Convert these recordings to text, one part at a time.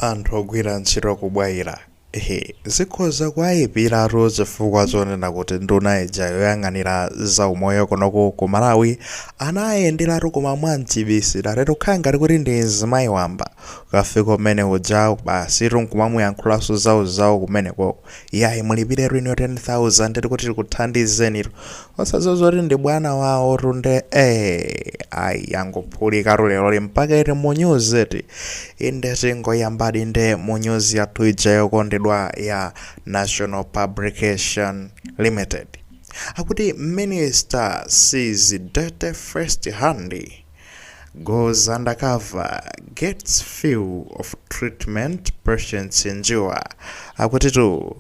Anthu ogwira ntchito ku Bwaila hee zikhoza kuwayipiratu chifukwa chonena kuti nduna ija yoyang'anira za umoyo kunoku ku Malawi anayenderatu koma mwamchibisiratu kukhala ngati kuti ndi mzimayi wamba kukafika kumene kuja basitu nkumamuyankhulanso zawo zawo kumenekoko. yayi mulipire inuyo 10000 kuti tikuthandizeni osadziwa zoti ndi bwana wawotu nde eh ayi yangophulika lero mpaka ili munyuzeti inde tingoyambadi nde munyuzi yathu ija yokondedwa ya national publication limited akuti minister sees dirty first hand Goes undercover, gets fill of treatment patients endure. Akutitu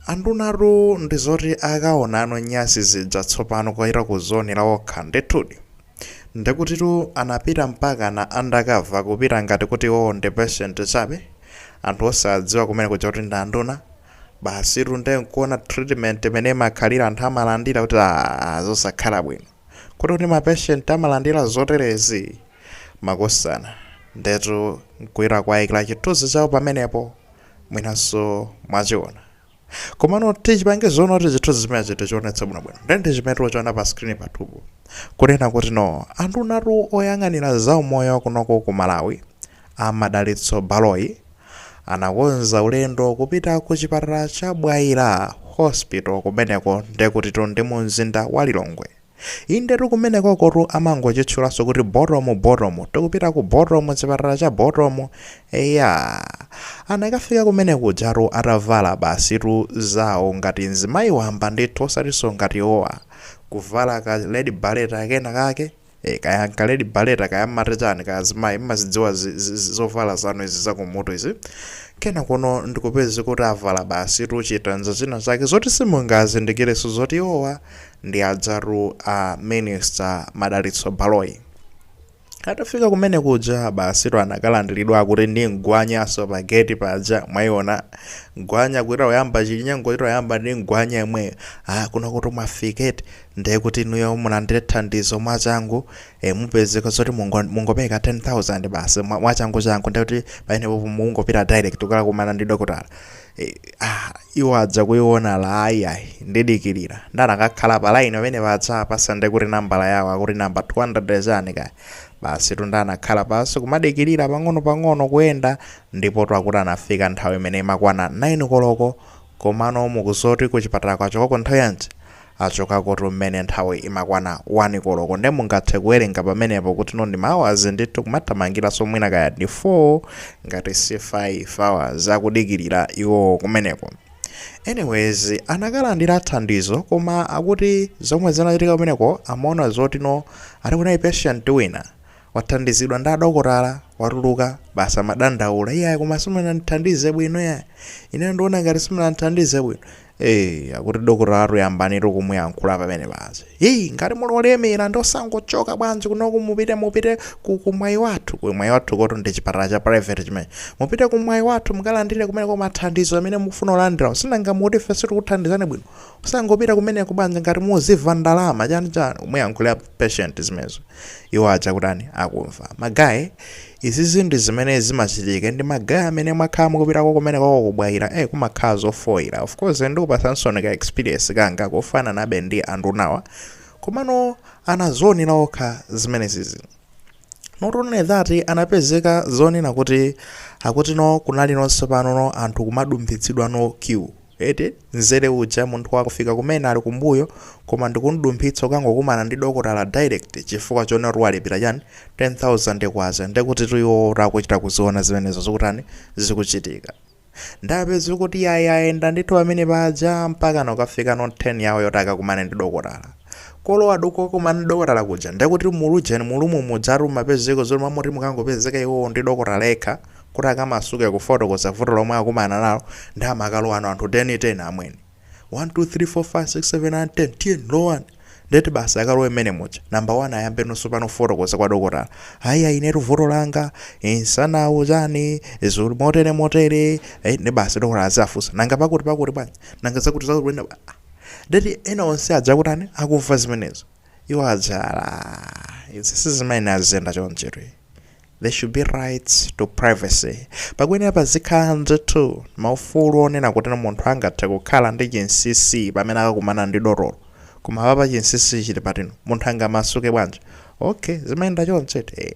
andunatu ndi zoti akaona nyasi zija tsopano kuchita kuzionera okha ndithudi. Ndekutitu anapita mpaka na undercover kupita ngati kuti iwowo ndi patient chabe. Anthu osadziwa kumene kuja kuti ndi anduna. Basitu nde nkuona treatment imene imakhala anthu amalandira kuti aa zosakhala bwino. Kodi kuti ma patient amalandira zoterezi? Makosana, ndetu nkuwaikira chithunzi chawo pamenepo, mwinanso mwachiona. Komano tichipange zoom kuti chithunzi chimenechi tichionetse bwinobwino. Nde ndi chimene tikuchiona pa screen pathupo. Kunena kuti no, andunatu oyang'anira zaumoyo kunoko ku Malawi, A Madalitso Baloyi anakonza ulendo kupita ku chipatala cha Bwaila Hospital kumeneko ndekutitu ndi mu mzinda wa Lilongwe. Indetu kumenekokotu amangochitchulanso kuti Bottom Bottom, tikupita ku Bottom chipatala cha Bottom. Eya, anakafika kumene kujatu atavala basitu zawo ngati mzimayi wamba ndithu osatinso ngati iwowa. Kuvala ka red beret kena kake, Eh, kaya nka red beret kaya mmati chani kaya azimayi mmazidziwa zi- zi- zi- zovala zanu izi zakumutu izi kenako ndikupezeka kuti avala basitu chitenje china chake zoti simungazindikireso zoti iwowa ndi adzaru a minister madalitso baloyi atafika kumene kuja basitu anakalandiridwa kuti ndi mgwanyaso pa gate paja mwayiona mgwanya kuti oyamba chinyengochitu oyamba ndi mgwanya yemweyo ah kuno kuti mwafiketi Ndiye kuti inuyo mulandire thandizo mwachangu, e, mupezeka zoti mungo, mungopereka 10,000 basi mwa- mwachanguchangu, ndiye kuti pamenepopo mukungopita direct kukakumana ndi dokotala. E, ah, iwo adza kuiona aa ayiayi ndidikirira nde anakakhala pa line pamene paja apatsa ndiye kuti nambala yawo akuti namba 200 chani kaya basitu nde anakhala pansi kumadikirira pang'ono-pang'ono kuyenda ndipotu akuti anafika nthawi imene imakwana 9 koloko komano mukudziwa zoti kuchipatala achoka koko nthawi yanji Achokakotu mmene nthawi imakwana 1 koloko nde mungathe kuwerenga pamenepo kuti no ndi ma hours ndithu kumathamangiranso mwina kaya ndi 4 ngati si 5 hours akudikilira iwowo kumeneko. Anyways anakalandira thandizo koma akuti zomwe zinachitika kumeneko amaona zoti no ati kunali patient wina Wathandizidwa ndi adokotala, watuluka, basi amadandaula, iyayi koma simunandithandize bwino iyayi, ineyo ndikuona ngati simunandithandize bwino. Ee, akuti dokotalatu yambanitu kumuyankhula pamene paja. Hii, ngati muli olemera nde osangochoka bwanji kunoku mupite mupite ku, ku Mwaiwathu. Ku Mwaiwathukotu ndi chipatala cha private chimene. Mupite ku Mwaiwathu mukalandire kumeneko mathandizo amene mukufuna kulandirawo. Sinanga mukuti ife sitikuthandizani bwino. Osangopita kumeneko bwanji ngati muziva ndalama chani chani kumuyankhula patient zimenezo iwo aja akutani akumva ma guy izizi ndi zimene zimachitika ndi ma guy amene mwakhala mukupitako kumeneko ku Bwaila eh kumakhala zofoira of course ndikupatsansoni ka experience kanga kofananabe ndi andunawa komano anazionera okha zimenezizi not only that anapezeka zonena kuti akutino kunali no tsopano no anthu kumadumphitsidwa no queue Eti nzere uja munthu wangofika kumene ali kumbuyo koma ndikumdumphitsa kukangokumana ndi dokotala direct chifukwa chonena kuti walipira chani K10000 ndekutitu iwowo kuti akuchita kuziona zimenezo zikutani zikuchitika nde apeze kuti yayi ayenda ndithu pamene paja mpakana kukafikano turn yawo yoti akakumane ndi dokotala kulowatu kokakumana ndi dokotala kuja nde kuti mu ujeni mu room mujatu mumapezeko zoti mmalo moti mukangopezeka iwowo ndi dokotala yekha kuti akamasuke kufotokoza vuto lomwe akumana nalo nde amakalowano anthu 10 10 amwene 1 2 3 4 5 6 7 8 10 tiyeni lowani ndeti basi akalowe mmene muja number 1 ayambe no tsopano kufotokoza kwa dokotala ayi ayi inetu vuto langa msanawu chani zuli motere motere eh, nde basi dokotala azafunsa nanga pakuti pakuti bwanji nanga zakuti zakuti bwanji? ndeti ena onse aja akutani akumva zimenezo iwo aja ala izi sizimayenera ziziyenda chonchetu there should be rights to privacy pakuyenera pazikhala ndithu maufulu onena kuti munthu angathe kukhala ndi chinsinsi pamene akakumana ndi dotolo koma apapa chinsinsi chili patino munthu angamasuke bwanji okay zimayenda chonchi eti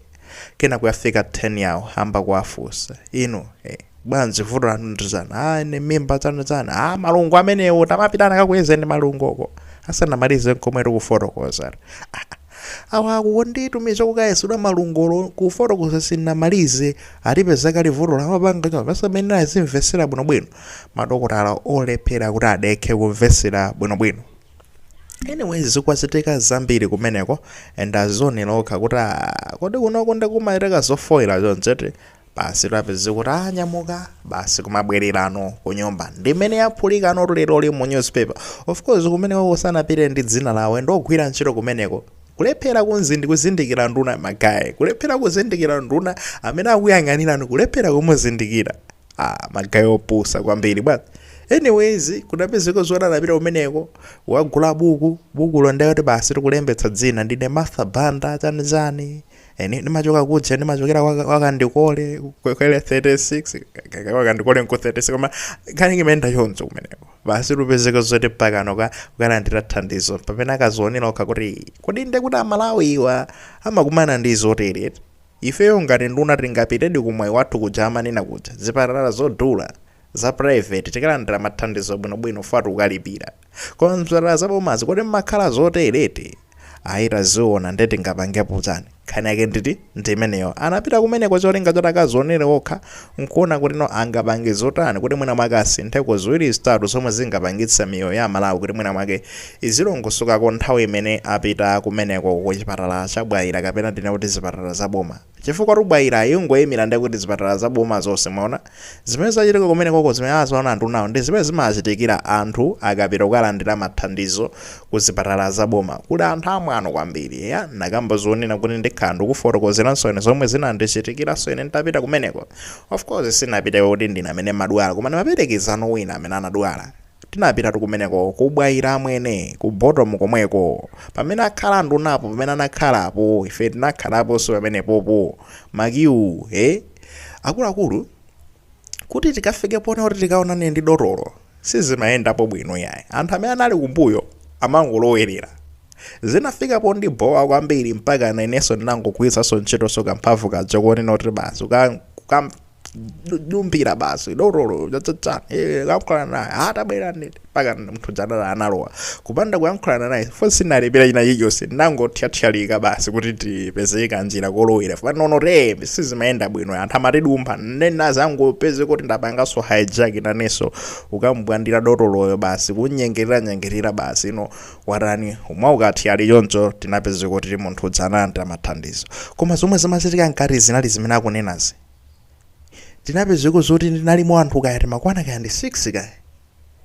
kenako yafika turn yawo ayamba kuwafunsa inu eh, bwanji vuto lanu ndi chani ah, ine mimba chani chani ah, malungo amenewo tamapitani akakuyezeni malungoko asanamalize nkomwe kufotokoza ah, awa akunditumiza kukayezedwa malungo olo kufotokoza sinamalize alipeza kale vutolo amapanga chao pasamene azimvesera bwinobwino madokotala olephera kuti adekhe kumvesera bwinobwino anyways zikuchitika zambiri kumeneko and adzionera okha kuti "Ah, kodi kunoko ndikumachitika zofoira chonchete basi tapeza kuti anyamuka basi kumabwererano kunyumba ndimene yaphulikano leroyi mu newspaper of course kumeneko sanapite ndi dzina lawo ndi ogwira ntchito kumeneko kulephera kunzindi kuzindikira nduna magaye kulephera kuzindikira nduna amene akuyang'anirani kulephera kumuzindikira Ah, magaye opusa kwambiri but anyways kudapezeka zoti anapita kumeneko wagula buku bukulo ndiyeti basi tikulembetsa dzina ndine martha banda chani chani eni ndimachoka kuja ndimachokera waka- wakandikole kwele 36 kaka wakandikole nku 36 koma nkhani imayenda choncho kumeneko basi kupezeka zoti pakano ka ukalandira thandizo pamene akadzionera okha kuti kodi ndekuti amalawiwa amakumana ndi zotere Ifeyo ngati nduna tingapitedi ku Mwayi Wathu kuja amanena kuja? Zipatala zodula, za private, tikalandira mathandizo bwinobwino chifukwa tikukalipira. Koma m'zipatala za bomazi kodi m'makhala zotere eti? Ayi taziona nde tingapangepo chani? Nkhani yake nditi? Ndi imeneyo. Anapita kumeneko cholinga choti akadzionere okha n'kuona kutino angapange zotani kuti mwina mwake asintheko ziwiri zitatu zomwe zingapangitse miyoyo ya Amalawi kuti mwina mwake izilongosokako nthawi imene apita kumeneko ku chipatala cha Bwaila kapena ndinene kuti zipatala za boma. Chifukwatu Bwaila ikungoyimira nde kuti zipatala za boma zonse mwaona? Zimene zachitika kumenekoko zimene aziona andunawo ndi zimene zimachitikira anthu akapita kukalandira mathandizo ku zipatala za boma. Kuli anthu amwano kwambiri eya. Ndakamba zonena kuti ndikhala ndikufotokozeranso ine zomwe zinandichitikiranso ine nditapita kumeneko. Of course sinapiteko kuti ndine amene ndimadwala koma ndimaperekeza no wina amene anadwala. Tinapitatu kumeneko ku Bwaila amwene, ku bottom komweko. Pamene akhala andunapo pamene anakhala apo, ife tinakhalaponso pamenepopo. Makiwu, he? Akuluakulu, kuti tikafike ponena kuti tikaonane ndi dotolo, sizimayendapo bwino yayi. Anthu amene anali kumbuyo amangolowerera. Zinafika pondibowa kwambiri mpakana inenso ndinangogwiritsanso ntchitonso kamphamvu kaja konena kuti basi kuka- kukam- dumpira basi dotolo chatsatsa eh, kukayankhulana naye atabwera nditi mpaka munthu uja analowa kupanda kuyankhulana naye fo sinalipira ina iliyonse ndangothyathyalika basi kuti tipezeka njira kolowera fo nanga sizimayenda bwino anthu amatidumpha nde ndinangopezeka kuti ndapanganso hijack nanenso kukam'bwandira dotoloyo basi kunyengerera nyengerera basi ino watani umwe ukathyali choncho tinapeze kuti munthu uja analandira mathandizo koma zomwe zimachitika mkati zinali zimene akunenazi tinapezeko zoti tinalimo anthu kaya timakwana kaya ndi 6 kaya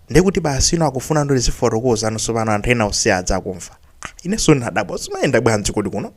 ndekuti basi ino akufuna ndo tizifotokoza anso pano anthu ena osiyana adza akumva Ah, inenso ndinadabwa zimayenda bwanji kodi kuno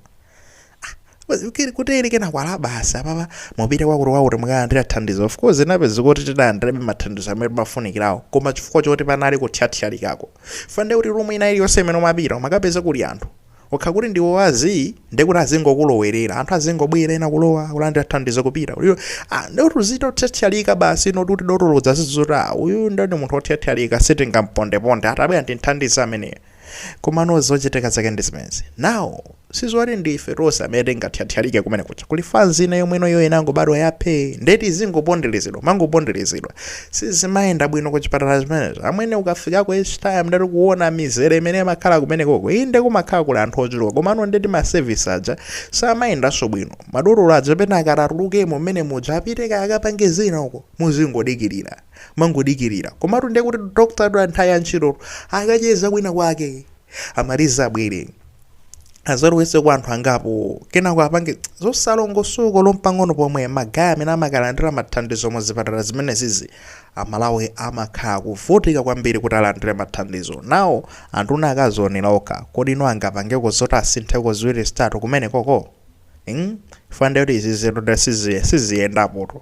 kuti ili kenaka ala basi apapa mupite kwakuti kwakuti mukalandira thandizo of course inapezeka kuti tidalandirabe mathandizo amene timafunikirawo koma chifukwa choti panali kuthyathyalika ufanda kuti rumu ina iliyonse imene umapita umakapeza kuli anthu okha kuti ndiwe wozii ndiye kuti azingokulowerera anthu azingobwera ena kulowa kulandira thandizo kupita uyu ah, ndiye kuti uzitothyathyalika basi ino kuti dotolo azaziwa zoti ah, uyu ndiye ndi munthu othyathyalika sitingampondeponde atabwera ndimthandize ameneyo komano zochitika zake ndi zimenezi now sizoti ndi ife tonse amene tingathyathyalike kumene kuja kuli fanzi ina yomwe inoyo inangobadwa yaphee nde ti zingoponderezedwa kumangoponderezedwa sizimayenda bwino ku chipatala zimenezo amwene ukafikako each time ndaati kuona mizere imene imakhala kumenekoko inde kumakhala kuli anthu ochuluka komano ndeti masevisi aja samayendanso bwino madotolo aja pena akangotulukamo mmene muja apite kaya akapange zina uko muzingodikirira kumangodikirira komatu ndiye kuti dokotala nthawi ya ntchito akacheza kwina kwake amalize abwere azalowetseko anthu angapo kenako apange zosalongosoka olo mpang'ono pomwe magaye amene amakalandira mathandizo mu zipatala zimenezizi amalawi amakhala kuvutika kwambiri kuti alandire mathandizo now anduna akazionera okha kodi ino angapangeko zoti asintheko ziwiri zitatu kumene koko mm? ufanda kuti izi zinthu siziyendapotu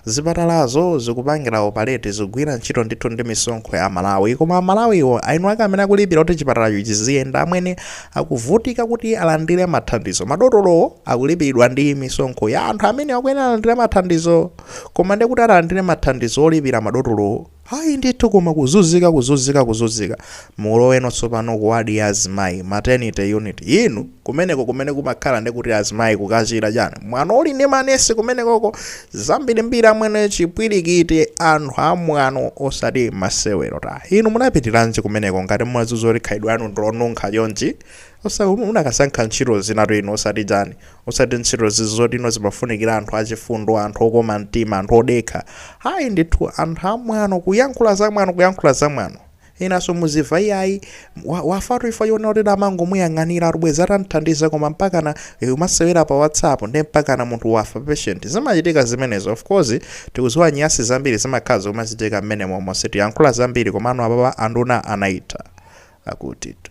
Zipatalazo zikupangila opaleti zikugwira ntchito ndithu ndi misonkho ya Amalawi koma Amalawiwo eni ake amene akulipira kuti chipatalacho chiziyenda amene akuvutika kuti alandire mathandizo. Madotolowo akulipiridwa ndi misonkho ya anthu amene akuyenera alandire mathandizo koma ndekuti alandire mathandizo olipira madotolowo. Ayi ndithu koma kuzuzika kuzuzika kuzuzika muloweno tsopano ku ward ya azimayi maternity unit inu kumeneko kumene kumakhala ndekuti azimayi kukachira chani mwano uli ndi manesi kumenekoko zambirimbiri amwene chipwirikiti anthu amwano osati masewero ta inu munapitiranji kumeneko ngati mumaziwa kuti khalidwe lanu ndilonunkha chonchi osati munakasankha ntchito zinatu inu osati chani Osati ntchito zizoti ino zimafunikira anthu achifundo, anthu okoma mtima, anthu odekha. Ayi ndithu, anthu amwano, kuyankhula zamwano, kuyankhula zamwano. Enanso muziva iyayi, wa, wafatu chifukwa chonena kuti amangomuyang'aniratu, bwezi atamthandiza koma mpakana eh, umasewera pa WhatsApp nde mpakana munthu wafa patient. Zimachitika zimenezo. Of course, tikuziwa nyasi zambiri zimakhala zimachitika mmene momo. Sitiyankhula zambiri komano apapa anduna anayitha. Akutitu.